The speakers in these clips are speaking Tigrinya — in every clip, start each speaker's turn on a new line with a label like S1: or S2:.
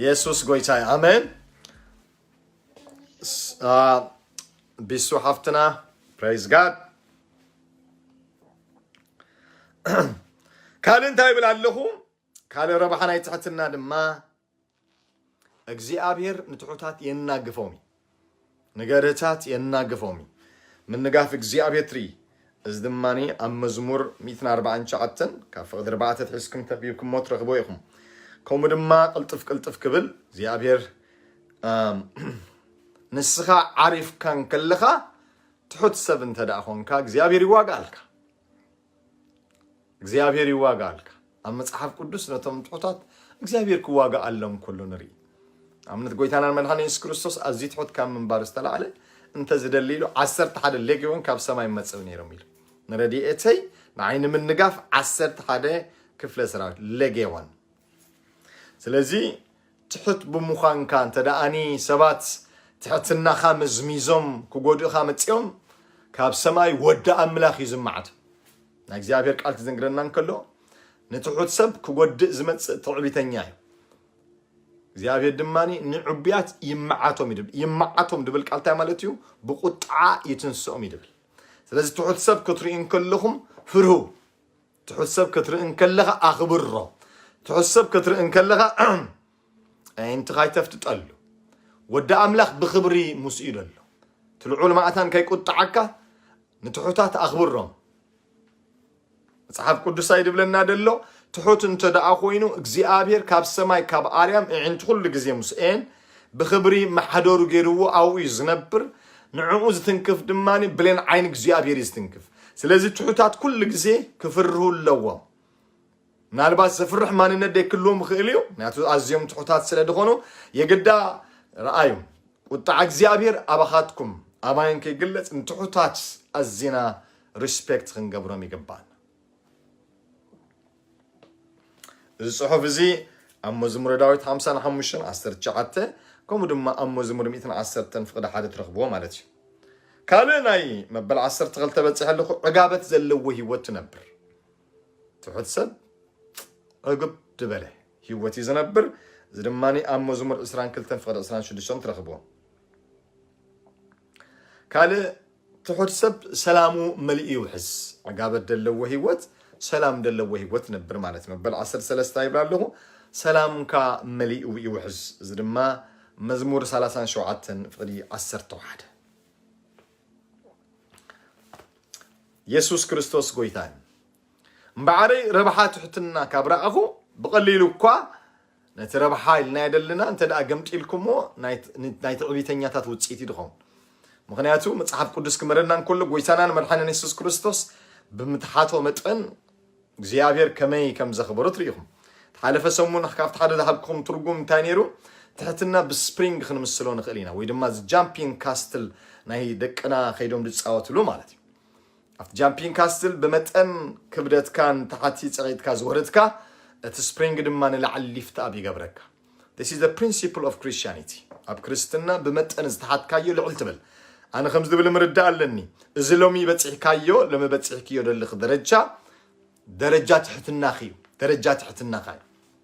S1: የሱስ ጎይታ እዩ ኣሜን ስ- አ፣ ቢሱ ሓፍትና ፕሬዝ ጋድ ካልእ እንታይ ይብል ኣለኹ ካልእ ረብሓ ናይ ትሕትና ድማ እግዚኣብሔር ንትሑታት የናግፎም እዩ። ንገርህታት የናግፎም እዩ። ምንጋፍ እግዚኣብሔር ትርኢ። እዚ ድማ ኣብ መዝሙር 149 ካብ ፍቕዲ ርባዕተ ትሒዝኩም ተቢብኩሞ ትረኽቦ ኢኹም። ከምኡ ድማ ቅልጥፍ ቅልጥፍ ክብል እግዚኣብሔር ንስኻ ዓሪፍካ እንከለኻ ትሑት ሰብ እንተ ደኣ ኾንካ እግዚኣብሔር ይዋጋኣልካ። እግዚኣብሄር ይዋጋኣልካ ኣብ መጽሓፍ ቅዱስ ነቶም ትሑታት እግዚኣብሄር ክዋጋኣሎም ከሎ ንርኢ ኣብነት ጎይታናን መድሓን የሱስ ክርስቶስ ኣዝዩ ትሑት ካብ ምንባር ዝተላዕለ እንተ ዝደሊ ኢሉ ዓሰርተ ሓደ ሌጌዎን ካብ ሰማይ መጽእ ነይሮም ኢሉ ንረድኤተይ ንዓይ ንምንጋፍ ዓሰርተ ሓደ ክፍለ ሰራዊት ሌጌዎን ስለዚ ትሑት ብምዃንካ እንተደኣኒ ሰባት ትሕትናኻ መዝሚዞም ክጎድእኻ መጺኦም ካብ ሰማይ ወዲ ኣምላኽ እዩ ዝመዓድ ናይ እግዚኣብሔር ቃል ክዝንግረና እንከሎ ንትሑት ሰብ ክጎድእ ዝመጽእ ትዕቢተኛ እዩ እግዚኣብሔር ድማ ንዕቡያት ይመዓቶም ይድብል ይመዓቶም ድብል ቃል እንታይ ማለት እዩ ብቁጥዓ ይትንስኦም ይድብል ስለዚ ትሑት ሰብ ክትርኢ እንከለኹም ፍርሁ ትሑት ሰብ ክትርኢ እንከለኻ ኣኽብሮ። ትሑት ሰብ ክትርኢ እንከለኻ ኣዒንትኻ ኣይተፍጥጠሉ። ወዲ ኣምላኽ ብኽብሪ ምስኡ እዩ ዘሎ። እቲ ልዑል ማእታን ከይቁጥዓካ ንትሑታት ኣኽብሮም። መጽሓፍ ቅዱስ ኣይድብለና ደሎ ትሑት እንተ ደኣ ኮይኑ እግዚኣብሔር ካብ ሰማይ ካብ ኣርያም እዒንቲ ኩሉ ግዜ ምስኤን ብኽብሪ መሓደሩ ገይርዎ ኣብኡ እዩ ዝነብር ንዕኡ ዝትንክፍ ድማ ብሌን ዓይኒ እግዚኣብሔር እዩ ዝትንክፍ ስለዚ ትሑታት ኩሉ ግዜ ክፍርሁ ኣለዎም ምናልባት ዘፍርሕ ማንነት ደይክልዎም ይኽእል እዩ ምክንያቱ ኣዝዮም ትሑታት ስለ ዝኾኑ የግዳ ረኣዩ ቁጣዕ እግዚኣብሔር ኣባኻትኩም ኣማይን ከይግለጽ ንትሑታት ኣዚና ሪስፔክት ክንገብሮም ይግባና እዚ ጽሑፍ እዚ ኣብ መዝሙረ ዳዊት ሓምሳን ሓሙሽተን ዓሰርተ ትሽዓተ ከምኡ ድማ ኣብ መዝሙር ሚእትን ዓሰርተን ፍቕዲ ሓደ ትረኽብዎ ማለት እዩ ካልእ ናይ መበል ዓሰርተ ክልተ በፂሐ ኣለኹ ዕጋበት ዘለዎ ህይወት ትነብር ትሑት ሰብ ዕግብ ድበለ ህይወት እዩ ዝነብር እዚ ድማ ኣብ መዝሙር ዕስራን ክልተን ፍቕዲ ዕስራን ሽዱሽተን ትረኽብዎ ካልእ ትሑት ሰብ ሰላሙ መሊኡ ይውሕስ ዕጋበት ደለዎ ህይወት ሰላም ደለዎ ህይወት ነብር ማለት መበል ዓሰርተ ሰለስተ ይብላ ኣለኹ ሰላምካ መሊኡ ይውሕስ እዚ ድማ መዝሙር ሰላሳን ሸውዓተን ፍቕዲ ዓሰርተ ሓደ የሱስ ክርስቶስ ጎይታን እምበዓረይ ረብሓ ትሕትና ካብ ረኣኹ ብቐሊሉ እኳ ነቲ ረብሓ ኢልና የደልና እንተ ደኣ ገምጢልኩምዎ ናይ ትዕቢተኛታት ውጽኢት እዩ ድኸውን። ምኽንያቱ መጽሓፍ ቅዱስ ክምህረና እንከሎ ጎይታናን መድሓንን የሱስ ክርስቶስ ብምትሓቶ መጠን እግዚኣብሔር ከመይ ከም ዘኽበሮ ትርኢኹም። ተሓለፈ ሰሙን ካብቲ ሓደ ዝሃብኩም ትርጉም እንታይ ነይሩ? ትሕትና ብስፕሪንግ ክንምስሎ ንኽእል ኢና ወይ ድማ ጃምፒንግ ካስትል ናይ ደቅና ከይዶም ዝፃወትሉ ማለት እዩ። ኣብቲ ጃምፒንግ ካስትል ብመጠን ክብደትካ ንታሕቲ ጽቒጥካ ዝወርድካ፣ እቲ ስፕሪንግ ድማ ንላዕሊ ሊፍት ኣፕ ይገብረካ። This is the principle of Christianity ኣብ ክርስትና ብመጠን ዝተሓትካዮ ልዕል ትብል። ኣነ ከምዚ ዝብል ምርዳእ ኣለኒ፣ እዚ ሎሚ በጺሕካዮ ሎሚ በጺሕክዮ ዘለኺ ደረጃ ደረጃ ትሕትናኺ እዩ፣ ደረጃ ትሕትናኻ እዩ።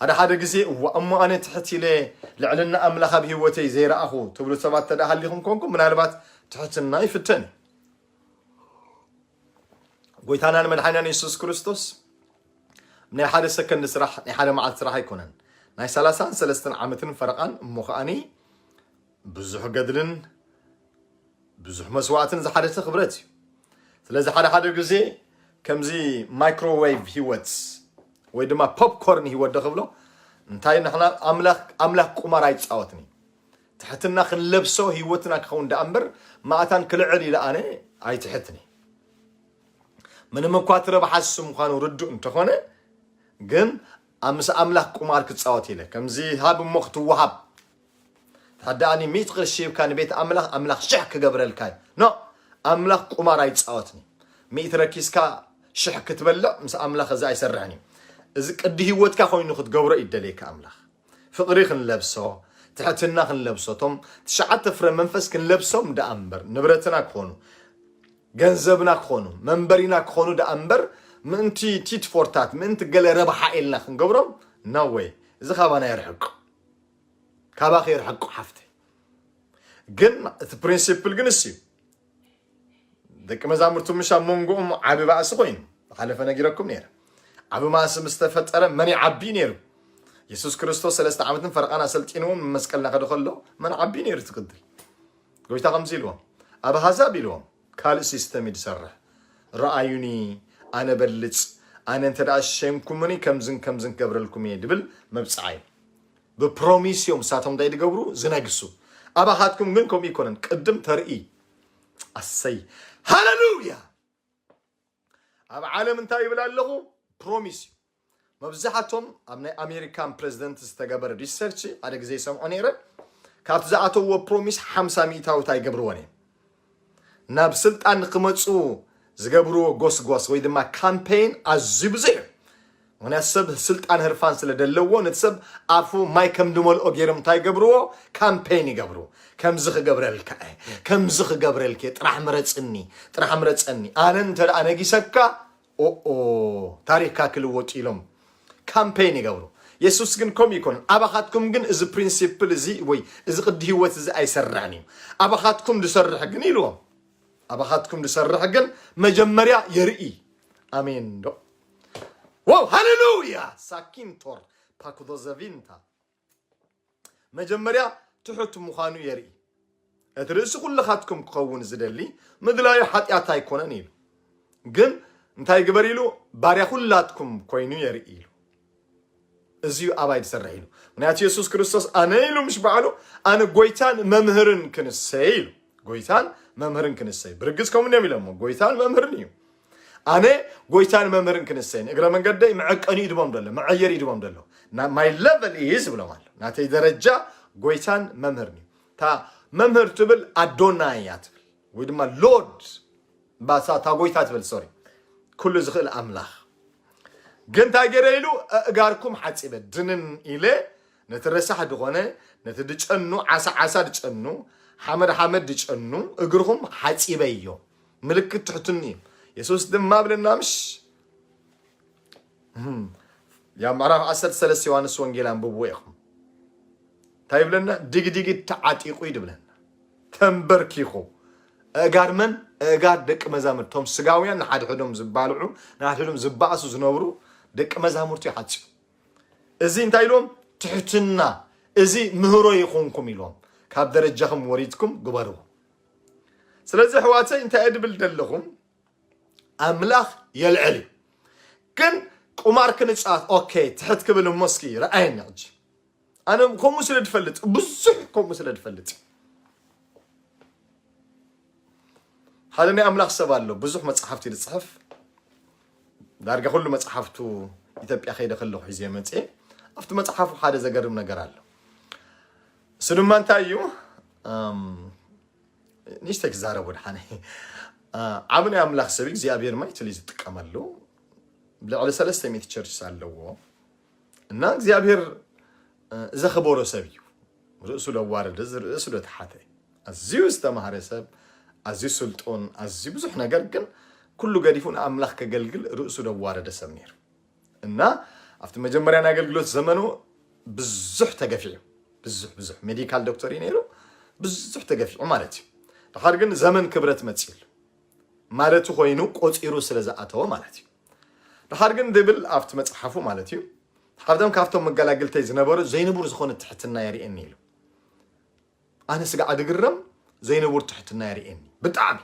S1: ሓደ ሓደ ግዜ እዋእ እሞ ኣነ ትሕት ኢለ ልዕልና ኣምላኽ ኣብ ህይወተይ ዘይረኣኹ ትብሉ ሰባት ተደኣ ሃሊኹም ኮንኩም ምናልባት ትሕትና ይፍተን እዩ ጎይታናን መድሓኒናን የሱስ ክርስቶስ ናይ ሓደ ሰከንድ ስራሕ ናይ ሓደ መዓልቲ ስራሕ ኣይኮነን ናይ ሰላሳን ሰለስተን ዓመትን ፈረቓን እሞ ከዓኒ ብዙሕ ገድልን ብዙሕ መስዋእትን ዝሓደተ ክብረት እዩ ስለዚ ሓደ ሓደ ግዜ ከምዚ ማይክሮዌቭ ሂወት ወይ ድማ ፖፕኮርን ሂወት ዶ ክብሎ እንታይ ንሕና ኣምላኽ ቁማር ኣይፃወትን እዩ ትሕትና ክንለብሶ ሂወትና ክኸውን ዳኣ እምበር ማእታን ክልዕል ኢለ ኣነ ኣይትሕትን እዩ ምንም እኳ እቲ ረብሓ እሱ ምዃኑ ርዱእ እንተኾነ ግን ምስ ኣምላኽ ቁማር ክፃወት ኢለ ከምዚ ሃብ እሞ ክትወሃብ ታዳኣኒ ሚእቲ ቅርሺ ሂብካ ንቤት ኣምላኽ ኣምላኽ ሽሕ ክገብረልካ እዩ ኖእ ኣምላኽ ቁማር ኣይጻወትን እዩ ሚእቲ ረኪስካ ሽሕ ክትበልዕ ምስ ኣምላኽ እዚ ኣይሰርሕን እዩ እዚ ቅዲ ህይወትካ ኮይኑ ክትገብሮ እዩ ደልየካ ኣምላኽ ፍቕሪ ክንለብሶ ትሕትና ክንለብሶ እቶም ትሽዓተ ፍረ መንፈስ ክንለብሶም ደኣ እምበር ንብረትና ክኾኑ ገንዘብና ክኾኑ መንበሪና ክኾኑ ደኣ እምበር ምእንቲ ቲትፎርታት ምእንቲ ገለ ረብሓ ኢልና ክንገብሮም ናወይ እዚ ካባና የርሕቅ ካባኺ ይርሕቁ ሓፍተይ ግን እቲ ፕሪንሲፕል ግን እሱ ደቂ መዛሙርቱ ምሽ ኣብ መንጎኦም ዓቢ ባእሲ ኮይኑ ዝሓለፈ ነጊረኩም ነይረ ዓቢ ማእሲ ምስ ተፈጠረ መን ይዓቢ ነይሩ የሱስ ክርስቶስ ሰለስተ ዓመትን ፈረቓን ኣሰልጢንዎም ንመስቀል ናኸደ ከሎ መን ዓቢ ነይሩ ትቅድል ጎይታ ከምዚ ኢልዎም ኣብ ኣህዛብ ኢልዎም ካልእ ሲስተም እዩ ዝሰርሕ ረኣዩኒ ኣነ በልፅ ኣነ እንተ ሸይምኩሙኒ ከምዝን ከምዝን ክገብረልኩም እየ ድብል መብፅዓ እዩ ብፕሮሚስ እዮም እሳቶም እንታይ ድገብሩ ዝነግሱ ኣባኻትኩም ግን ከምኡ ይኮነን ቅድም ተርኢ ኣሰይ ሃለሉያ ኣብ ዓለም እንታይ ይብል ኣለኹ ፕሮሚስ እዩ መብዛሕቶም ኣብ ናይ ኣሜሪካን ፕረዚደንት ዝተገበረ ሪሰርች ሓደ ግዜ ይሰምዖ ነይረ ካብቲ ዝኣተውዎ ፕሮሚስ ሓምሳ ሚእታዊት ኣይገብርዎን እዮም ናብ ስልጣን ንክመፁ ዝገብርዎ ጎስጓስ ወይ ድማ ካምፔይን ኣዝዩ ብዙሕ እዩ ምክንያቱ ሰብ ስልጣን ህርፋን ስለ ደለዎ ነቲ ሰብ ኣፉ ማይ ከም ድመልኦ ገይሮም እንታይ ይገብርዎ ካምፔይን ይገብሩ ከምዚ ክገብረልካ እየ ከምዚ ክገብረልክ ጥራሕ ምረፅኒ ጥራሕ ምረፀኒ ኣነ እንተ ነጊሰካ ኦኦ ታሪኽካ ክልወጥ ኢሎም ካምፐይን ይገብሩ። የሱስ ግን ከምኡ ኣይኮነን። ኣባኻትኩም ግን እዚ ፕሪንሲፕል እዚ ወይ እዚ ቅዲ ህይወት እዚ ኣይሰርሕን እዩ፣ ኣባኻትኩም ዝሰርሕ ግን ኢልዎም። ኣባኻትኩም ዝሰርሕ ግን መጀመርያ የርኢ። ኣሜን ዶ ዋው ሃሌሉያ ሳኪንቶር ፓኩዶዘቪንታ መጀመርያ ትሑት ምዃኑ የርኢ። እቲ ርእሲ ኩልኻትኩም ክኸውን ዝደሊ ምድላዩ ሓጢኣት ኣይኮነን ኢሉ ግን እንታይ ግበር ኢሉ ባርያ ኩላትኩም ኮይኑ የርኢ ኢሉ እዚዩ ኣባይ ዝሰርሕ ኢሉ ምክንያቱ የሱስ ክርስቶስ ኣነ ኢሉ ምስ በዓሉ ኣነ ጎይታን መምህርን ክንሰይ ኢሉ ጎይታን መምህርን ክንሰይ ብርግፅ ከምኡ እዮም ኢሎሞ ጎይታን መምህርን እዩ ኣነ ጎይታን መምህርን ክንሰይን እግረ መንገደይ መዐቀኒ ይድሞም ደሎ መዐየር ይድሞም ደሎ ማይ ለቨል ኢዝ ብሎም ኣሎ ናተይ ደረጃ ጎይታን መምህርን እዩ እታ መምህር ትብል ኣዶና እያ ትብል ወይ ድማ ሎድ ባሳታ ጎይታ ትብል ሶሪ ኩሉ ዝኽእል ኣምላኽ ግን እንታይ ገይረ ኢሉ ኣእጋርኩም ሓፂበ ድንን ኢለ ነቲ ረሳሕ ድኾነ ነቲ ድጨኑ ዓሳ ዓሳ ድጨኑ ሓመድ ሓመድ ድጨኑ እግርኹም ሓፂበዮ ምልክት ትሕትኑ እዩ የሱስ ድማ ብለና ምሽ ያብ ምዕራፍ 13 ዮሃንስ ወንጌል ኣንብብዎ ኢኹም እንታይ ይብለና ድግድግ ተዓጢቑ እዩ ድብለና ተንበርኪኹ እጋድ መን እጋድ ደቂ መዛሙርት እቶም ስጋውያን ንሓድሕዶም ዝባልዑ ንሓድሕዶም ዝባእሱ ዝነብሩ ደቂ መዛሙርቱ ይሓፅዩ እዚ እንታይ ኢልዎም ትሕትና እዚ ምህሮ ይኹንኩም ኢልዎም ካብ ደረጃኹም ወሪድኩም ግበርዎ ስለዚ ኣሕዋተይ እንታይ እየ ድብል ደለኹ ኣምላኽ የልዕል እዩ ግን ቁማር ክንፃወት ኦኬ ትሕት ክብል እሞ እስኪ ረኣየኒ ሕጂ ኣነ ከምኡ ስለ ድፈልጥ ብዙሕ ከምኡ ስለ ድፈልጥ ሓደ ናይ ኣምላኽ ሰብ ኣሎ ብዙሕ መፅሓፍቲ ዝፅሕፍ ዳርጋ ኩሉ መፅሓፍቱ ኢትዮጵያ ከይደ ከለኹ ሒዘ መፅኤ ኣብቲ መፅሓፉ ሓደ ዘገርም ነገር ኣሎ እሱ ድማ እንታይ እዩ ንእሽተይ ክዛረብ ወድሓነ ዓብ ናይ ኣምላኽ ሰብ እግዚኣብሔር ማይትል እዩ ዝጥቀመሉ ልዕሊ ሰለስተ ሚት ቸርችስ ኣለዎ እና እግዚኣብሔር ዘኽበሮ ሰብ እዩ ርእሱ ለዋረደ ርእሱ ለተሓተ ኣዝዩ ዝተማሃረ ሰብ ኣዝዩ ስልጡን ኣዝዩ ብዙሕ ነገር ግን ኩሉ ገዲፉ ንኣምላኽ ከገልግል ርእሱ ለዋረደ ሰብ ነይሩ እና ኣብቲ መጀመርያ ናይ ኣገልግሎት ዘመኑ ብዙሕ ተገፊዑ ብዙሕ ብዙሕ ሜዲካል ዶክተር እዩ ነይሩ ብዙሕ ተገፊዑ ማለት እዩ ድሓር ግን ዘመን ክብረት መፅሉ ማለት ኮይኑ ቆፂሩ ስለ ዝኣተወ ማለት እዩ ድሓር ግን ድብል ኣብቲ መፅሓፉ ማለት እዩ ሓብቶም ካብቶም መገላግልተይ ዝነበሩ ዘይንቡር ዝኾነ ትሕትና የርእየኒ ኢሉ ኣነ ስጋዕ ድግረም ዘይንቡር ትሕትና የርእየኒ ብጣዕሚ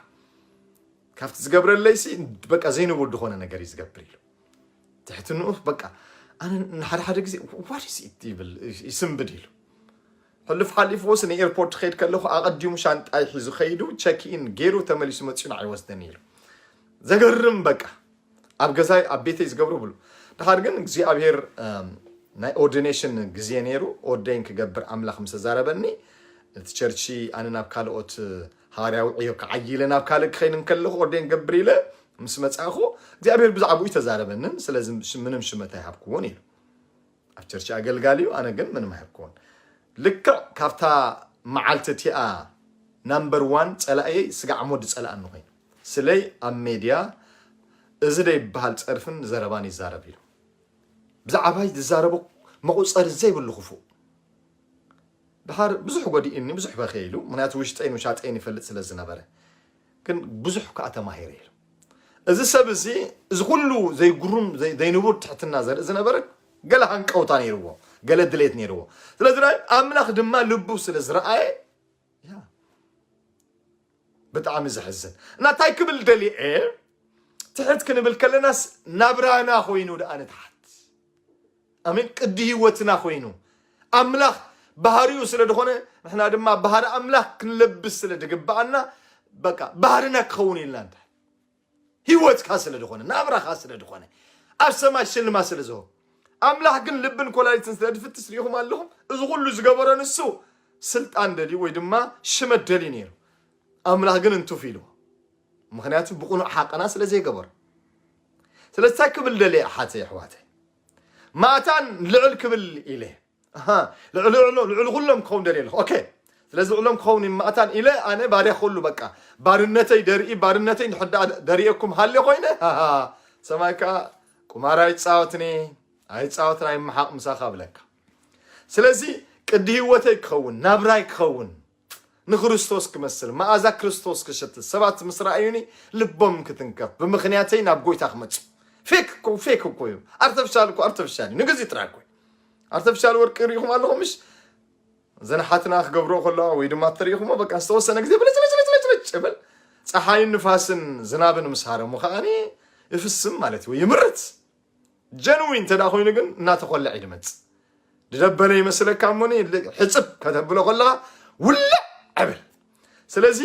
S1: ካብቲ ዝገብረለይሲ በቃ ዘይንቡር ዝኾነ ነገር እዩ ዝገብር ኢሉ ትሕትንኡ በቃ ኣነ ንሓደ ሓደ ግዜ ዋሪስ ይብል ይስንብድ ኢሉ ሕልፍ ሓሊፍዎስ ንኤርፖርት ክኸይድ ከለኹ ኣቐዲሙ ሻንጣይ ሒዙ ከይዱ ቸክኢን ገይሩ ተመሊሱ መፅኡ ንዓይ ወስደኒ ኢሉ ዘገርም በቃ ኣብ ገዛይ ኣብ ቤተይ ዝገብሮ ብሉ ድሓር ግን እግዚኣብሄር ናይ ኦርዲኔሽን ግዜ ነይሩ ኦርደይን ክገብር ኣምላኽ ምስ ተዛረበኒ እቲ ቸርቺ ኣነ ናብ ካልኦት ሃዋርያዊ ዕዮ ክዓይ ኢለ ናብ ካልእ ክኸይድ እንከለኹ ኦርደይን ገብር ኢለ ምስ መጻኹ እግዚኣብሄር ብዛዕባኡ ተዛረበንን ስለዚ ምንም ሽመት ኣይሃብክዎን ኢሉ ኣብ ቸርች ኣገልጋሊ እዩ ኣነ ግን ምንም ኣይኮን ልክዕ ካብታ መዓልቲ እቲኣ ናምበር ዋን ፀላእየይ ስጋዕ ሞድ ፀላእኒ ኮይኑ ስለይ ኣብ ሜድያ እዚ ደይበሃል ፀርፍን ዘረባን ይዛረብ ኢሉ ብዛዕባይ ዝዛረቡ መቑፀሪ ዘይብሉ ክፉእ ድሓር ብዙሕ ጎዲእኒ ብዙሕ በኸ ኢሉ ምክንያቱ ውሽጠይን ውሻጠይን ይፈልጥ ስለ ዝነበረ ግን ብዙሕ ከኣ ተማሂረ ኢሉ። እዚ ሰብ እዚ እዚ ኩሉ ዘይግሩም ዘይንቡር ትሕትና ዘርኢ ዝነበረ ገለ ሃንቀውታ ነይርዎ፣ ገለ ድሌት ነይርዎ። ስለዚ ኣምላኽ ድማ ልቡ ስለ ዝረኣየ ብጣዕሚ ዘሕዝን እና እንታይ ክብል ደሊዐ ትሕት ክንብል ከለናስ ናብራና ኮይኑ ደኣ ንትሓት ኣሜን ቅዲ ህይወትና ኮይኑ ኣምላኽ ባህሪኡ ስለ ዝኾነ ንሕና ድማ ባህሪ ኣምላኽ ክንለብስ ስለ ድግብኣና በቃ ባህርና ክኸውን ኢልና እንታይ ህይወትካ ስለ ዝኾነ ናብራኻ ስለ ዝኾነ ኣብ ሰማይ ሽልማ ስለ ዝሆ ኣምላኽ ግን ልብን ኮላሊትን ስለ ድፍትሽ ሪኢኹም ኣለኹም እዚ ኩሉ ዝገበሮ ንሱ ስልጣን ደልዩ ወይ ድማ ሽመት ደልዩ ነይሩ ኣምላኽ ግን እንትፍ ኢልዎ ምክንያቱ ብቕኑዕ ሓቀና ስለ ዘይገበሩ ስለዚ እንታይ ክብል ደልየ ኣሓተይ ኣሕዋተይ ማእታን ልዕል ክብል ኢለ ልዕሊ ኩሎም ክኸውን ደልየ ኣለኹ ኦኬ ስለዚ ልዕሎም ክኸውን ማእታን ኢለ ኣነ ባርያ ኩሉ በቃ ባርነተይ ደርኢ ባርነተይ እንድሕር ደኣ ደሪኤኩም ሃልየ ኮይነ ሰማይ ከዓ ቁማር ኣይፃወትኒ ኣይፃወትን ኣይመሓቕ ምሳኻ ብለካ ስለዚ ቅዲ ህይወተይ ክኸውን ናብራይ ክኸውን ንክርስቶስ ክመስል፣ መኣዛ ክርስቶስ ክሸትት፣ ሰባት ምስ ረኣዩኒ ልቦም ክትንከፍ፣ ብምኽንያተይ ናብ ጎይታ ክመጹ። ፌክ እኮ ፌክ እኮ እዩ፣ ኣርተፍሻል እኮ ኣርተፍሻል እዩ፣ ንግዚኡ ጥራይ እኮ እዩ። ኣርተፍሻል ወርቂ ርኢኹም ኣለኹም ምሽ እዘን ሓትና ክገብሮ ከለዋ ወይ ድማ እተርእኹሞ በቃ ዝተወሰነ ግዜ ብልጭልጭልጭልጭ ይብል ፀሓይን ንፋስን ዝናብን ምስ ሃረሙ ከዓኒ ይፍስም ማለት እዩ ወይ ይምርት ጀንዊን እንተደኣ ኮይኑ ግን እናተኾለዐ እዩ ድመጽእ ድደበለ ይመስለካ እሞኒ ሕፅብ ከተብሎ ከለኻ ውልዕ ዕብል ስለዚ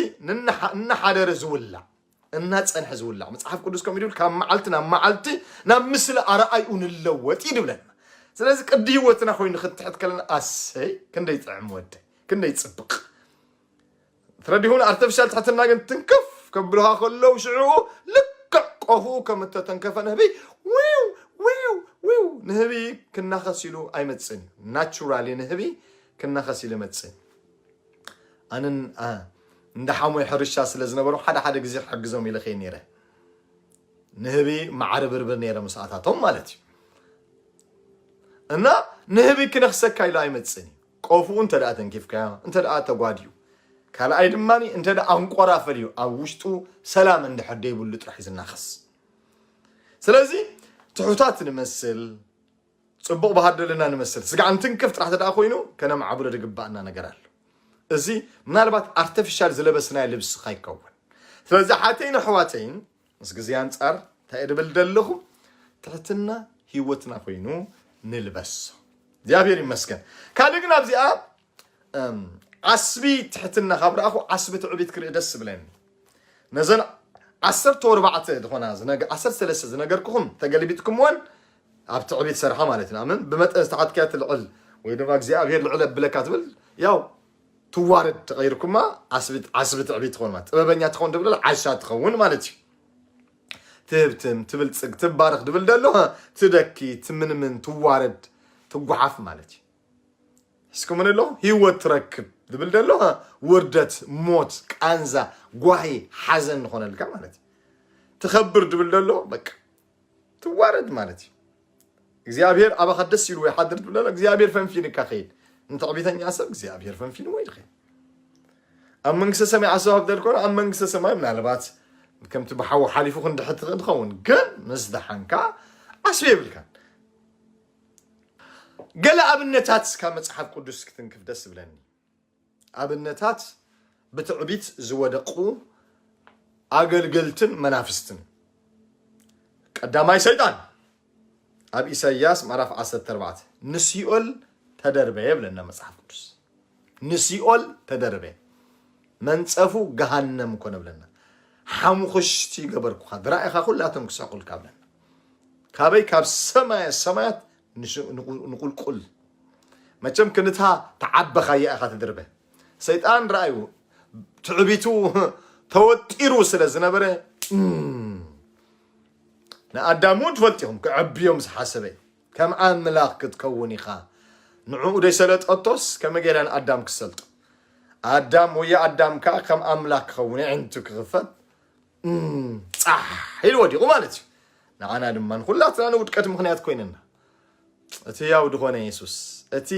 S1: እናሓደረ ዝውላዕ እናፀንሐ ዝውላዕ መፅሓፍ ቅዱስ ከምኡ ድብል ካብ መዓልቲ ናብ መዓልቲ ናብ ምስሊ ኣረኣይኡ ንለወጥ እዩ ድብለና ስለዚ ቅዲ ህይወትና ኮይኑ ክንትሕት ከለና ኣሰይ ክንደይ ጥዕም ወደ ክንደይ ፅብቅ ትረዲሁን ኣርተፍሻል ትሕትና ግን ትንክፍ ከብሉኻ ከለዉ ሽዑኡ ልክዕ ቆፉ ከም እተተንከፈ ንህቢ ዊው ዊው ዊው ንህቢ ክናኸስ ኢሉ ኣይመጽእን እዩ ናቹራሊ ንህቢ ክናኸስ ኢሉ መጽእ ኣንን እንዳ ሓሞይ ሕርሻ ስለ ዝነበሩ ሓደ ሓደ ግዜ ክሕግዞም ኢለ ከይ ነይረ ንህቢ ማዕሪ ብርብር ነይረ ምስኣታቶም ማለት እዩ እና ንህቢ ክነክሰካ ኢሉ ኣይመፅን እዩ ቆፉኡ እንተደኣ ተንኪፍካዮ እንተደኣ ተጓድዩ ካልኣይ ድማ እንተደኣ ኣንቆራ ፈልዩ ኣብ ውሽጡ ሰላም እንድሕር ደይብሉ ጥራሕ እዩ ዝናኸስ ስለዚ ትሑታት ንመስል ፅቡቕ ባህር ደለና ንመስል ስጋዕ እንትንክፍ ጥራሕ ተደኣ ኮይኑ ከነማዕብሎ ድግባእና ነገር ኣሎ እዚ ምናልባት ኣርተፊሻል ዝለበስናዮ ልብሲ ካይከውን ስለዚ ሓተይን ኣሕዋተይን ምስ ግዜ ኣንጻር እንታይ ድብል ደለኹ ትሕትና ሂወትና ኮይኑ ንልበሶ እግዚኣብሔር ይመስገን ካልእ ግን ኣብዚኣ ዓስቢ ትሕትና ካብ ረኣኹ ዓስቢ ትዕቢት ክርኢ ደስ ብለኒ ነዘን ዓሰርተ ወርባዕተ ዝኾና ዓሰርተ ሰለስተ ዝነገርኩኹም ተገልቢጥኩምወን ኣብ ትዕቢት ሰርሓ ማለት እዩ ኣምን ብመጠን ዝተሓትካያ ትልዕል ወይ ድማ እግዚኣብሄር ልዕል ኣብለካ ትብል ያው ትዋረድ ተቀይርኩማ ዓስቢ ትዕቢ ትኮን ጥበበኛ ትኮን ድብል ዓሻ ትኸውን ማለት እዩ ትህብትም ትብልፅግ ትባረክ ድብል ደሎ ትደኪ ትምንምን ትዋረድ ትጓሓፍ ማለት እዩ ሕስኩምን ኣሎ ሂወት ትረክብ ዝብል ደሎ ውርደት ሞት ቃንዛ ጓሂ ሓዘን ንኾነልካ ማለት እዩ ትኸብር ድብል ደሎ በቃ ትዋረድ ማለት እዩ እግዚኣብሔር ኣባኻ ደስ ኢሉ ወይ ሓድር ትብለላ እግዚኣብሔር ፈንፊንካ ከይድ ንትዕቢተኛ ሰብ እግዚኣብሔር ፈንፊኑ ወይ ድኸ ኣብ መንግስተ ሰማይ ዓሰብ ሃብደል ኮነ ኣብ መንግስተ ሰማይ ምናልባት ከምቲ ብሓዊ ሓሊፉ ክንድሕት ትኽእል ትኸውን ግን ምስ ደሓንካ ዓስቢ የብልካን ገለ ኣብነታት ካብ መፅሓፍ ቅዱስ ክትንክፍ ደስ ዝብለኒ ኣብነታት ብትዕቢት ዝወደቁ ኣገልገልትን መናፍስትን ቀዳማይ ሰይጣን ኣብ ኢሳይያስ ምዕራፍ 14 ንሲኦል ተደርበ የብለና መጽሓፍ ቅዱስ ንሲኦል ተደርበ መንጸፉ ገሃነም ኮነ ብለና ሓሙኽሽቲ ገበርኩኻ ድራኢኻ ኩላቶም ክስሕቁልካ ብለና ካበይ ካብ ሰማየ ሰማያት ንቁልቁል መቸም ክንታ ተዓበኻያ ኢኻ ትድርበ ሰይጣን ረኣዩ ትዕቢቱ ተወጢሩ ስለ ዝነበረ ንኣዳም እውን ትፈልጢኹም ክዕብዮም ዝሓሰበ ከም ኣምላኽ ክትከውን ኢኻ ንዕኡ ደይሰለጠቶስ ከመይ ገይራ ንኣዳም ክሰልጦ ኣዳም ወይ ኣዳም ከዓ ከም ኣምላኽ ክኸውን ዕንቱ ክኽፈት ፃሕ ኢሉ ወዲቑ ማለት እዩ። ንዓና ድማ ንኹላትና ንውድቀት ምኽንያት ኮይነና እቲ ያው ድኾነ የሱስ እቲ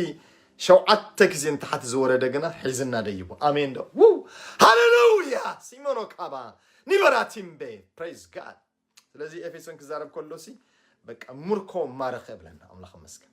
S1: ሸውዓተ ግዜ ንታሕቲ ዝወረደ ግና ሒዝና ደይቡ ኣሜን ዶ ው ሃሌሉያ ሲሞኖ ካባ ኒበራቲምቤ ፕሬዝ ጋድ ስለዚ ኤፌሶን ክዛረብ ከሎ ሲ በቃ ምርኮ ማረኸ ብለና ኣምላኽ መስገን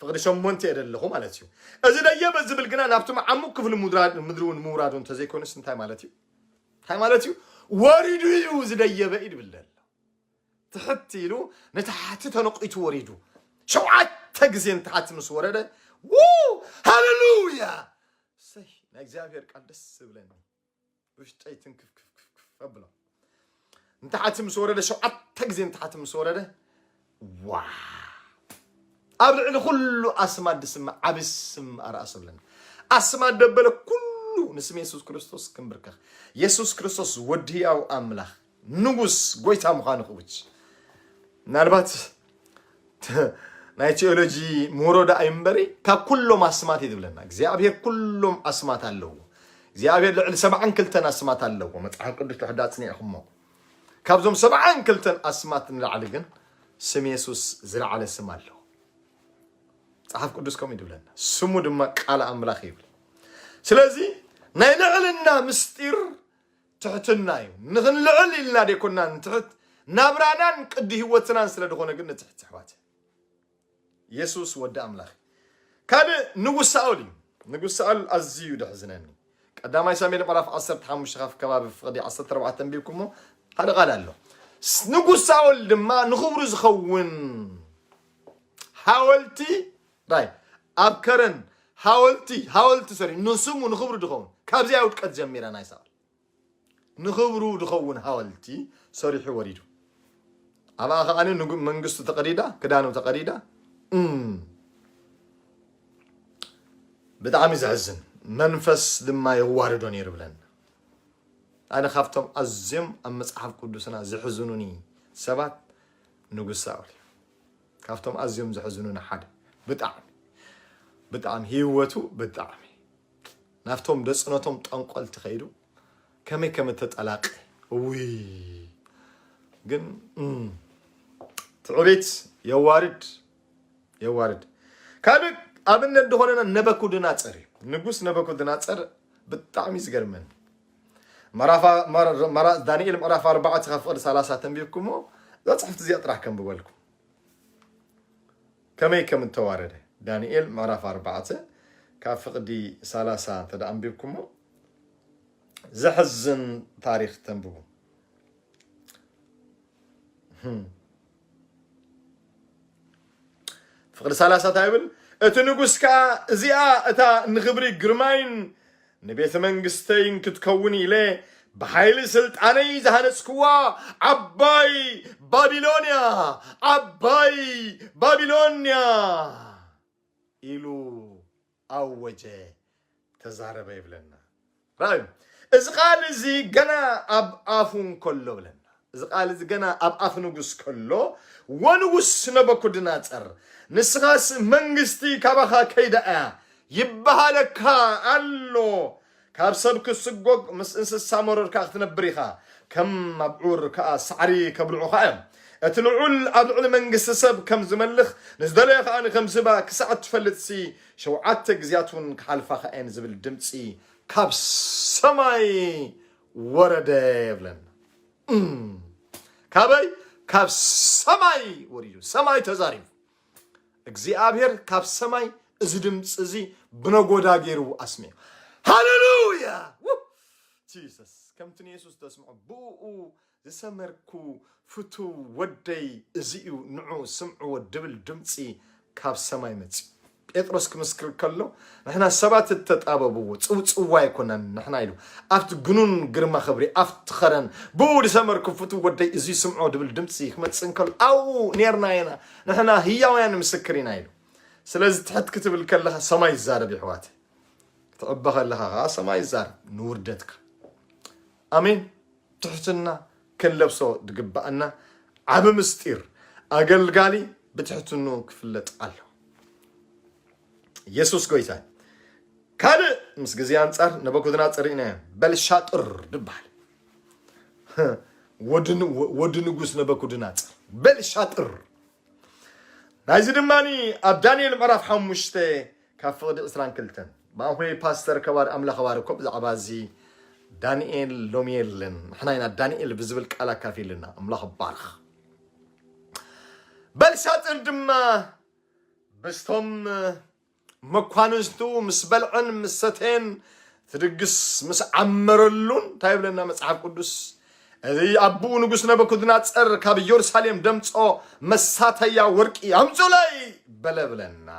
S1: ፍቕዲ ሸሞንተ እየ ደለኹ ማለት እዩ። እዚ ደየበ ዝብል ግና ናብቲ መዓሙቕ ክፍሊ ምድሪ እውን ምውራዱ እንተዘይኮይኑስ እንታይ ማለት እዩ? እንታይ ማለት እዩ? ወሪዱ እዩ እዚ ደየበ እዩ ድብል ደሎ ትሕት ኢሉ ንታሕቲ ተነቂቱ ወሪዱ ሸውዓተ ግዜ ንታሕቲ ምስ ወረደ ው ሃሌሉያ ሰይ ናይ እግዚኣብሔር ቃል ደስ ዝብለኒ ውሽጠይ ትንክፍክፍክፍ ኣብሎ እንተሓቲ ምስ ወረደ ሸውዓተ ግዜ እንተሓቲ ምስ ወረደ ዋ ኣብ ልዕሊ ኩሉ ኣስማት ድስምዕ ዓብ ስም ኣርኣሶ ኣለና ኣስማት ደበለ ኩሉ ንስም የሱስ ክርስቶስ ክንብርከኽ የሱስ ክርስቶስ ወዲ ህያው ኣምላኽ ንጉስ ጎይታ ምዃኑ ክውጅ ምናልባት ናይ ቴዎሎጂ ምሁሮ ደኣ እዩ እምበሪ ካብ ኩሎም ኣስማት እዩ ዝብለና እግዚኣብሄር ኩሎም ኣስማት ኣለዎ እግዚኣብሄር ልዕሊ ሰብዓን ክልተን ኣስማት ኣለዎ መፅሓፍ ቅዱስ ትሕዳ ኣፅኒዕኹሞ ካብዞም ሰብዓን ክልተን ኣስማት ንላዕሊ ግን ስም የሱስ ዝለዓለ ስም ኣለዎ መፅሓፍ ቅዱስ ከምኡ ይብለና ስሙ ድማ ቃል ኣምላኽ ይብል ስለዚ ናይ ልዕልና ምስጢር ትሕትና እዩ ንክንልዕል ኢልና ደይኮና ንትሕት ናብራናን ቅዲ ህይወትናን ስለ ድኾነ ግን ንትሕት ኣሕዋት የሱስ ወዲ ኣምላኽ ካልእ ንጉስ ሳኦል እዩ ንጉስ ሳኦል ኣዝዩ ደሕዝነኒ ቀዳማይ ሳሙኤል ምዕራፍ 15 ካብ ከባቢ ፍቕዲ 14 ተንቢብኩሞ ሓደ ቃል ኣሎ ንጉስ ሳኦል ድማ ንኽብሩ ዝኸውን ሓወልቲ ራይ ኣብ ከረን ሃወልቲ ሃወልቲ ሰሪሑ ንስሙ ንክብሩ ድኸውን ካብዚኣ ውድቀት ጀሚራ ናይ ሳዋ ንክብሩ ድኸውን ሃወልቲ ሰሪሑ ወሪዱ ኣብኣ ከዓ ንጉ መንግስቱ ተቀዲዳ ክዳኑ ተቀዲዳ ብጣዕሚ ዘሕዝን መንፈስ ድማ የዋርዶ ነይሩ ብለን ኣነ ካብቶም ኣዝዮም ኣብ መፅሓፍ ቅዱስና ዝሕዝኑኒ ሰባት ንጉስ ሳኦል እዩ ካብቶም ኣዝዮም ዘሕዝኑኒ ሓደ ብጣዕሚ ብጣዕሚ ሂወቱ ብጣዕሚ ናብቶም ደጽነቶም ጠንቆልቲ ከይዱ ከመይ ከም እተጠላቀ እውይ ግን ትዕቢት የዋርድ የዋርድ ካልእ ኣብነት ዝኾነና ነበኩድናጸር እዩ ንጉስ ነበኩድናጸር ብጣዕሚ ዝገርመን መራ ዳንኤል ምዕራፍ ኣርባዕተ ካብ ፍቕዲ ሰላሳ ተንቢብኩሞ እዛ ጽሕፍቲ እዚኣ ጥራሕ ከንብበልኩም ከመይ ከም እተዋረደ ዳንኤል ምዕራፍ ኣርባዕተ ካብ ፍቕዲ ሰላሳ እንተ ኣንቢብኩሞ ዘሕዝን ታሪክ ተንብቡ ፍቕዲ ሰላሳ እንታይ ይብል? እቲ ንጉስ ከኣ እዚኣ እታ ንኽብሪ ግርማይን ንቤተ መንግስተይን ክትከውን ኢለ ብሓይሊ ስልጣነይ ዝሃነጽክዋ ዓባይ ባቢሎንያ ዓባይ ባቢሎንያ ኢሉ ኣወጀ ተዛረበ ይብለና ራዩ እዚ ቃል እዚ ገና ኣብ ኣፉ እንከሎ ብለና እዚ ቃል እዚ ገና ኣብ ኣፍ ንጉስ ከሎ ወንጉስ ነበኩድናፀር ንስኻስ መንግስቲ ካባኻ ከይዳ እያ ይበሃለካ ኣሎ ካብ ሰብ ክትስጎግ ምስ እንስሳ መሮርካ ክትነብር ኢኻ፣ ከም ኣብዑር ከኣ ሳዕሪ ከብልዑኻ እዮም። እቲ ልዑል ኣብ ልዕሊ መንግስቲ ሰብ ከም ዝመልኽ፣ ንዝደለዮ ከኣ ከም ዝህባ ክሳዕ እትፈልጥሲ፣ ሸውዓተ ግዝያትውን ክሓልፋኻ እየን ዝብል ድምጺ ካብ ሰማይ ወረደ ይብለና። እም! ካበይ? ካብ ሰማይ ወሪዱ፣ ሰማይ ተዛሪቡ። እግዚኣብሔር ካብ ሰማይ እዚ ድምፂ እዚ ብነጎዳ ገይሩ ኣስሚዑ ሃሌሉያ ጂሰስ ከምቲ ንየሱስ ተስምዖ ብኡ ዝሰመርኩ ፍቱ ወደይ እዚ እዩ ንዑ ስምዕዎ ድብል ድምፂ ካብ ሰማይ መፅዩ ጴጥሮስ ክምስክር ከሎ ንሕና ሰባት እተጣበብዎ ፅውፅዋ ኣይኮነን ንሕና ኢሉ ኣብቲ ግኑን ግርማ ክብሪ ኣብቲ ኸረን ብኡ ዝሰመርኩም ፍቱ ወደይ እዚ ስምዖ ድብል ድምፂ ክመፅእ እንከሎ ኣብኡ ኔርና ኢና ንሕና ህያውያን ምስክር ኢና ኢሉ ስለዚ ትሕት ክትብል ከለኻ ሰማይ ይዛረብ ይሕዋት ክትዕበ ከለኻ ከዓ ሰማይ ይዛረብ ንውርደትካ ኣሜን ትሕትና ክንለብሶ ድግባኣና ዓብ ምስጢር ኣገልጋሊ ብትሕትኑ ክፍለጥ ኣሎ የሱስ ጎይታ ካልእ ምስ ግዜ ኣንጻር ነበኩድናጽር ኢና በልሻጥር ድበሃል ወዲ ንጉስ ነበኩድናፅር በልሻጥር ናይዚ ድማ ኣብ ዳንኤል ምዕራፍ ሓሙሽተ ካብ ፍቕዲ ዕስራን ክልተን ብኣንኮይ ፓስተር ከባር ኣምላኽ ባርኮ ብዛዕባ እዚ ዳንኤል ሎሚ የለን ንሕና ኢና ዳንኤል ብዝብል ቃል ኣካፊልና ኣምላኽ ባርኽ በልሻጥር ድማ በስቶም መኳንንቱ ምስ በልዐን ምስ ሰተየን እቲ ድግስ ምስ ዓመረሉን እንታይ ይብለና መጽሓፍ ቅዱስ እዚ ኣቦኡ ንጉስ ነበኩድናጸር ካብ ኢየሩሳሌም ደምጾ መሳተያ ወርቂ ኣምጹለይ በለ ብለና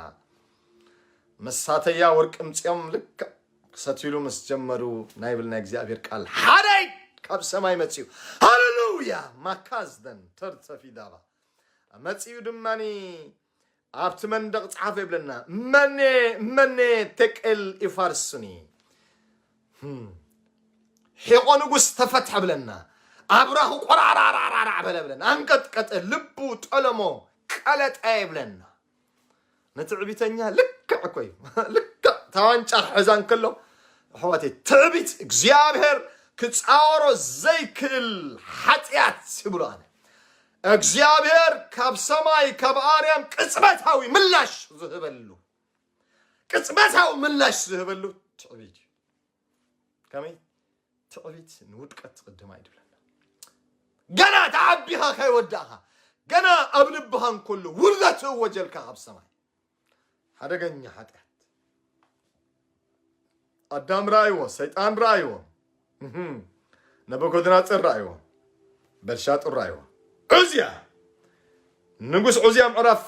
S1: መሳተያ ወርቂ ምጽኦም ልክዕ ክሰትሉ ምስ ጀመሩ ናይ ብል ናይ እግዚኣብሔር ቃል ሓደይ ካብ ሰማይ መጽኡ ሃሌሉያ ማካዝደን ተርተፊዳባ መጽኡ ድማኒ ኣብቲ መንደቕ ጸሓፎ ይብለና መኔ መኔ ቴቄል ይፋርስኒ ሒቆ ንጉስ ተፈትሐ ብለና ኣብራኹ ቆራራራራራ በለ ብለን ኣንቀጥቀጠ ልቡ ጠለሞ ቀለጠ ይብለና ንትዕቢተኛ ልክዕ እኮ እዩ ልክዕ ታዋንጫ ክሕዛ እንከሎ ኣሕዋተይ ትዕቢት እግዚኣብሔር ክፃወሮ ዘይክእል ሓጢኣት ይብሎ ኣነ እግዚኣብሔር ካብ ሰማይ ካብ ኣርያም ቅጽበታዊ ምላሽ ዝህበሉ ቅጽበታዊ ምላሽ ዝህበሉ ትዕቢት እዩ ከመይ ትዕቢት ንውድቀት ትቕድማ እዩ ድብለና ገና ተዓቢኻ ከይወዳእኻ ገና ኣብ ልብኻ እንከሎ ውርደት እወጀልካ ካብ ሰማይ ሓደገኛ ሓጢኣት ኣዳም ረኣይዎ ሰይጣን ረኣይዎ ነበጎድናፅር ረኣይዎ በልሻጡር ረኣይዎ ዑዝያ ንጉስ ዑዝያ ምዕራፍ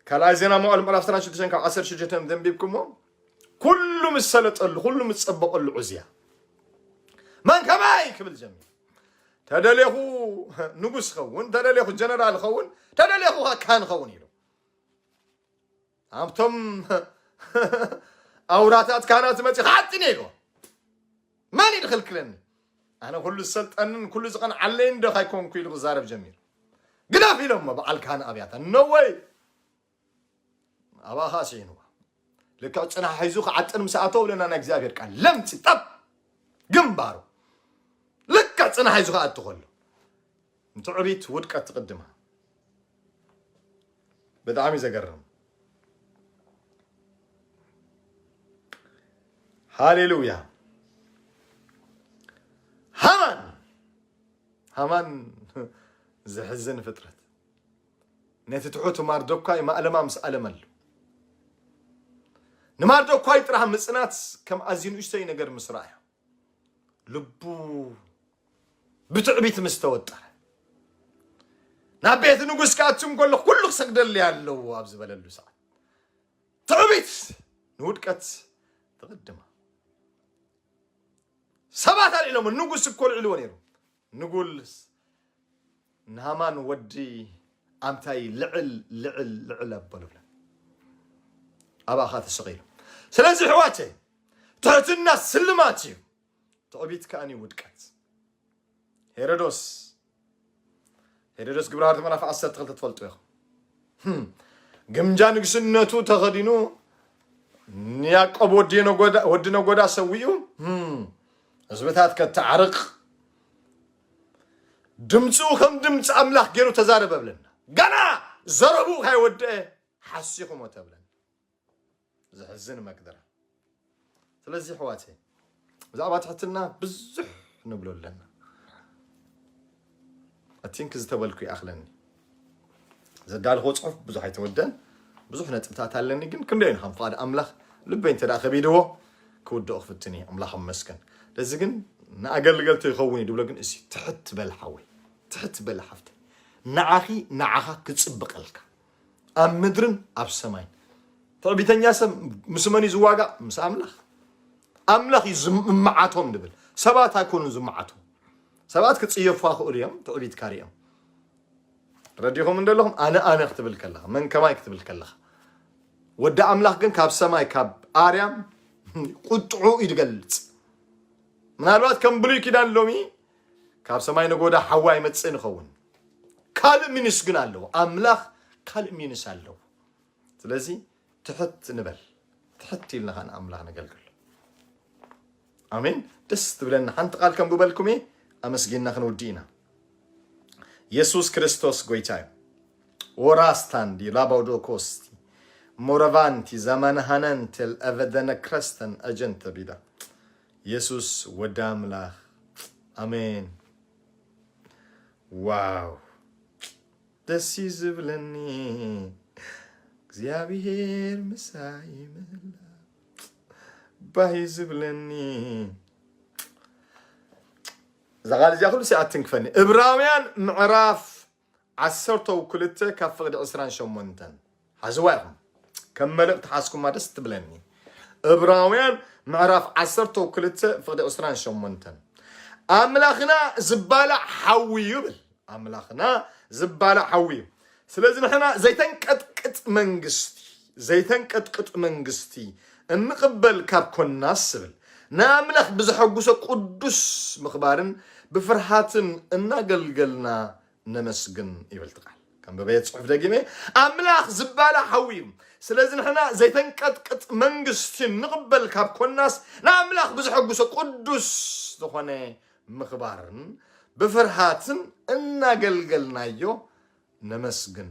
S1: ካልኣይ ዜና መዋዕል ምዕራፍ 16 ካብ 16 ዘንቢብኩሞ ኩሉ ምስ ሰለጠሉ ኩሉ ምስ ፀበቐሉ ዑዝያ መን ከማይ ክብል ጀሚሩ ተደሌኹ ንጉስ ኸውን ተደሌኹ ጀነራል ኸውን ተደሌኹ ካን ኸውን ኢሉ ኣብቶም ኣውራታት ካህናት መፂ ክዓጥን እየ ኢልዎ መን እዩ ዝኽልክለኒ ኣነ ኩሉ ዝሰልጠንን ኩሉ ዝቐንዓለይን ዶ ካይኮንኩ ኢሉ ክዛረብ ጀሚሩ ግደፍ ኢሎሞ በዓል ካህን ኣብያታ ነወይ ኣባኻ ስዒንዋ ልክዕ ፅናሕ ሒዙ ክዓጥን ምስ ኣተወ ብለና ናይ እግዚኣብሔር ቃል ለምፂ ጠብ ግንባሩ ልክዕ ፅናሕ ሒዙ ክኣቱ ከሎ ንትዕቢት ውድቀት ትቅድማ ብጣዕሚ ዘገርም ሃሌሉያ ሃማን ሃማን ዘሕዝን ፍጥረት ነቲ ትሑት ማርዶኳይ ማእለማ ምስ ኣለመሉ፣ ንማርዶኳይ ጥራህ ምጽናት ከም ኣዝዩ ንእሽቶይ ነገር ምስ ረኣዮ፣ ልቡ ብትዕቢት ምስ ተወጠረ፣ ናብ ቤት ንጉስ ክኣቱ እንከሎ ኩሉ ክሰግደለይ ኣለዎ ኣብ ዝበለሉ ሰዓት፣ ትዕቢት ንውድቀት ትቕድማ። ሰባት ኣልዒሎሞ፣ ንጉስ እኮ ኣልዒልዎ ነይሩ፣ ንጉል ንሃማን ወዲ ኣምታይ ልዕል ልዕል ልዕል ኣበሉለ ኣባኻ ተሰቒሉ ስለዚ ሕዋተይ ትሕትና ስልማት እዩ ትዕቢት ከኣኒ ውድቀት ሄሮዶስ ሄሮዶስ ግብረ ሃርት ምዕራፍ ዓሰርተ ክልተ ትፈልጡ ኢኹም ግምጃ ንግስነቱ ተኸዲኑ ንያቆብ ወዲ ነጎዳ ሰዊኡ ህዝብታት ከታዓርቅ ድምፁ ከም ድምፂ ኣምላኽ ገይሩ ተዛረበ ብለና ገና ዘረብኡ ካይወድአ ሓሲኹሞ ተብለን ዘሕዝን መግደራ ስለዚ ሕዋተ ብዛዕባ ትሕትና ብዙሕ ንብሎ ኣለና I think ዝተበልኩ ይኣኽለኒ ዘዳልኽዎ ጽሑፍ ብዙሕ ኣይተወደን ብዙሕ ነጥብታት ኣለኒ ግን ክንደይ ንኻም ፍቓድ ኣምላኽ ልበይ እንተ ከቢድዎ ክውድኦ ክፍትን እየ ኣምላኽ ኣመስገን ለዚ ግን ንኣገልገልቶ ይኸውን እዩ ድብሎ ግን እዚ ትሕት በል ሓወይ ትሕት በል ሓፍተይ ንዓኺ ንዓኻ ክጽብቐልካ ኣብ ምድርን ኣብ ሰማይን ትዕቢተኛ ሰብ ምስ መን እዩ ዝዋጋእ ምስ ኣምላኽ ኣምላኽ እዩ ዝምዓቶም ንብል ሰባት ኣይኮኑን ዝምዓቶም ሰባት ክጽየፉካ ክእሉ እዮም ትዕቢትካ ሪኦም ረዲኹም እንደለኹም ኣነ ኣነ ክትብል ከለኻ መን ከማይ ክትብል ከለኻ ወዲ ኣምላኽ ግን ካብ ሰማይ ካብ ኣርያም ቁጥዑ እዩ ዝገልጽ ምናልባት ከም ብሉይ ኪዳን ሎሚ ካብ ሰማይ ነጎዳ ሓዋ ይመፅእን ይኸውን ካልእ ሚኒስ ግን ኣለዎ ኣምላኽ ካልእ ሚኒስ ኣለዎ ስለዚ ትሕት ንበል ትሕት ኢልና ከኣ ንኣምላኽ ነገልግሎ ኣሜን ደስ ትብለና ሓንቲ ቃል ከምብበልኩም እየ ኣመስጊንና ክንውዲ ኢና የሱስ ክርስቶስ ጎይታ እዩ ወራስታንዲ ላባውዶኮስቲ ሞረቫንቲ ዘመንሃነንትል ኣቨደነ ክረስተን ኣጀንተ ቢዳ የሱስ ወዲ ኣምላኽ ኣሜን ዋው ደስ እዩ ዝብለኒ እግዚኣብሄር ምሳይ ምህላው ባህ እዩ ዝብለኒ እዛ ቃል እዚኣ ኩሉ ሲኣ ትንክፈኒ እብራውያን ምዕራፍ ዓሰርተው ክልተ ካብ ፍቕዲ ዕስራን ሸሞንተን ሓዝዋ ኢኹም ከም መልእክቲ ሓዝኩማ ደስ ትብለኒ እብራውያን ምዕራፍ ዓሰርተው ክልተ ፍቕዲ ዕስራን ሸሞንተን ኣምላኽና ዝባላዕ ሓዊ እዩ ብል ኣምላኽና ዝባላዕ ሓዊ እዩ ስለዚ ንሕና ዘይተንቀጥቅጥ መንግስቲ ዘይተንቀጥቅጥ መንግስቲ እንቕበል ካብ ኮናስ ስብል ንኣምላኽ ብዘሐጉሰ ቅዱስ ምኽባርን ብፍርሃትን እናገልገልና ነመስግን ይብል እቲ ቃል ከም በበየ ጽሑፍ ደጊመ ኣምላኽ ዝባላ ሓዊ እዩ ስለዚ ንሕና ዘይተንቀጥቅጥ መንግስቲ ንቕበል ካብ ኮናስ ንኣምላኽ ብዝሐጉሶ ቅዱስ ዝኾነ ምኽባርን ብፍርሃትን እናገልገልናዮ ነመስግን